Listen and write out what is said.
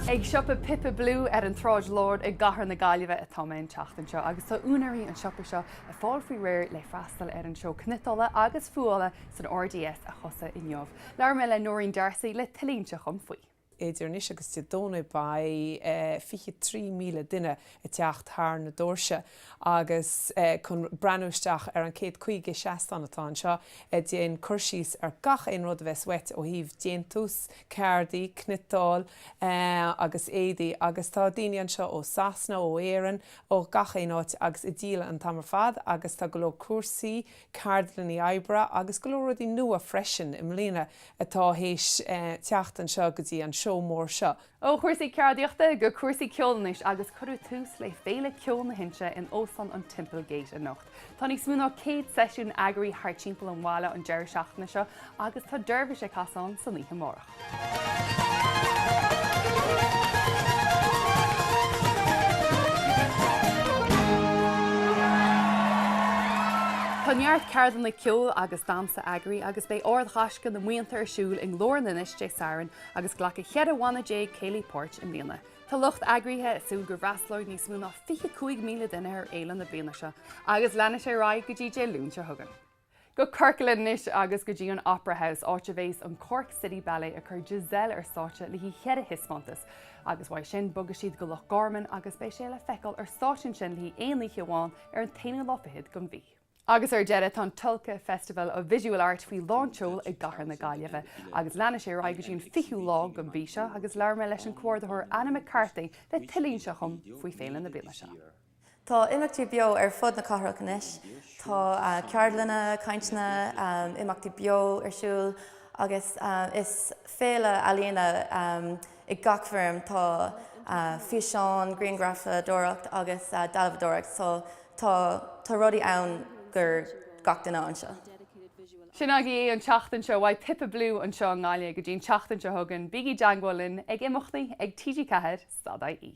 Ag siopa Pippa Blue ar an tSráid Láir i gCathair na Gaillimhe atá mé an tseachtain seo agus tá úinéirí an tsiopa seo ag fáil faoi réir le freastal ar an seó cniotála agus fuála san RDS a thosaigh inniu. Labhair mé le Noreen D'Arcy le tuilleadh inseacht dhom faoi. Idir anois agus Dé Domhnaigh beidh 23,000 duine ag teacht thar na doirse Agus chun breathnú isteach ar an céad caoga seastán atá anseo ag déanamh cur síos ar gach aon rud a bheas uait ó thaobh déantús, ceardaí, cniotáil agus éadaí agus tá daoine anseo ó Sasana, ó Éireann, ó gach aon áit agus ag díol an t-am ar fad agus tá go leor cúrsaí, ceardlannaí oibre agus go leor rudaí nua freisin i mbliana atá tar éis teacht anseo go dtí an seó mór seo. Ó chúrsaí ceardaíochta go cúrsaí ceoil anois agus cuireadh tús le Féile Ceoil na hInse in Óstán an Temple Gate anocht. Tá níos mó ná 100 seisiún eagraithe thart timpeall an bhaile an deireadh seachtaine seo agus tá Dervish ag casadh san oíche amárach. Tá neart ceardlanna ceoil agus damhsa eagraithe agus beidh Ard Ghaisce na mBuíonta ar siúl i nGlór in Inis Dé Sathairn agus glacfaidh 14 bhanna céilí páirt i mbliana. Tá lucht eagraithe ag súil go bhfreastalóidh níos mó ná 25,000 duine ar fhéile na bliana seo agus leanfaidh sé ar aghaidh go dtí Dé Luain seo chugainn. Go Corcaigh anois agus go dtí an Opera House, áit a bheas an Cork City Ballet ag cur Giselle ar stáitse le haghaidh cheithre thaispeántas. Agus uaidh sin bogfaidh siad go Loch Garman agus beidh sé le feiceáil ar stáitse ansin le haghaidh aon oíche amháin ar an t-aonú lá fichead den mhí. Agus ar deireadh, tá an Tulca Festival of Visual Art faoi lánseol i gcathair na Gaillimhe. Agus leanfaidh sé ar aghaidh go dtí an 20ú lá den mhí seo agus labhair mé leis an comhordaitheoir Anna McCarthy le tuilleadh inseacht dhom faoi féile na bliana seo. Tá imeachtaí beo ar fud na cathrach anois. Tá ceardlanna, cainteanna, imeachtaí beo ar siúl agus is féile ealaíona, I ngach foirm tá físeán, grianghrafadóireacht agus dealbhadóireacht so tá tá rudaí ann do gach duine anseo. Sin agaibh an tseachtain seo uaidh Pippa Blue anseo i nGaillimh go dtí an tseachtain seo chugainn bígí i dteagmháil linn ag imeachtaí ag TG4 stad ie.